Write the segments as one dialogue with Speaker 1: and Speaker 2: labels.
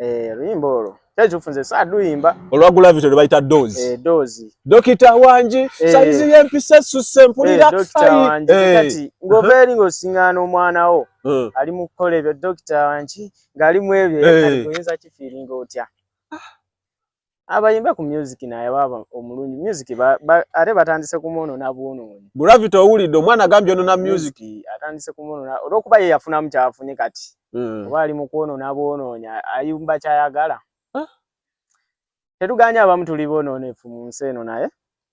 Speaker 1: Eh, luyimba olwo kyekifu nze saaduyimba olwa gulavity lwebayita
Speaker 2: dozi eh, dozi dokita
Speaker 1: wangi
Speaker 2: eh. sayizi yempisa esusse mpulira kati
Speaker 1: ngova eri ngaosiŋgaana omwana wo ali mu kukola ebyo dokita wangi ng'ali mu ebyo oyinza kifiiringa otya ah. abayimba ku music naye baba omulungi music ba, ba, ate batandise kumono na buono mwenye gravity owulidde omwana
Speaker 2: agambye ono na music atandise kumono
Speaker 1: na olwokuba ye yafunamu kyafunye kati mm. oba ali mukwono na bwonoonya ayumba kyayagala ah. tetuganya abamu tuli bononefu mu nsi eno naye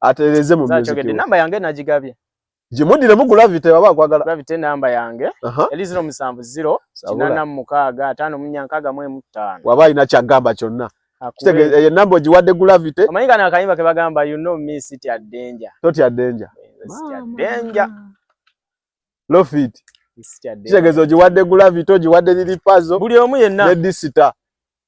Speaker 2: atereze mu music yo namba yange najigabye
Speaker 1: jimudire mu
Speaker 2: gravity baba kwagala gravity namba yange
Speaker 1: uh -huh. eli 070 kinana mukaga atano munyankaga mwe mutano waba ina chagamba
Speaker 2: chonna kitege ye eh, namba ojiwade gravity amanyika na kayimba ke
Speaker 1: bagamba you know me sit at danger tot at danger
Speaker 2: sit at danger low fit sit at danger kitege ojiwade gravity ojiwade lili pazo buli omu yenna ne
Speaker 1: disita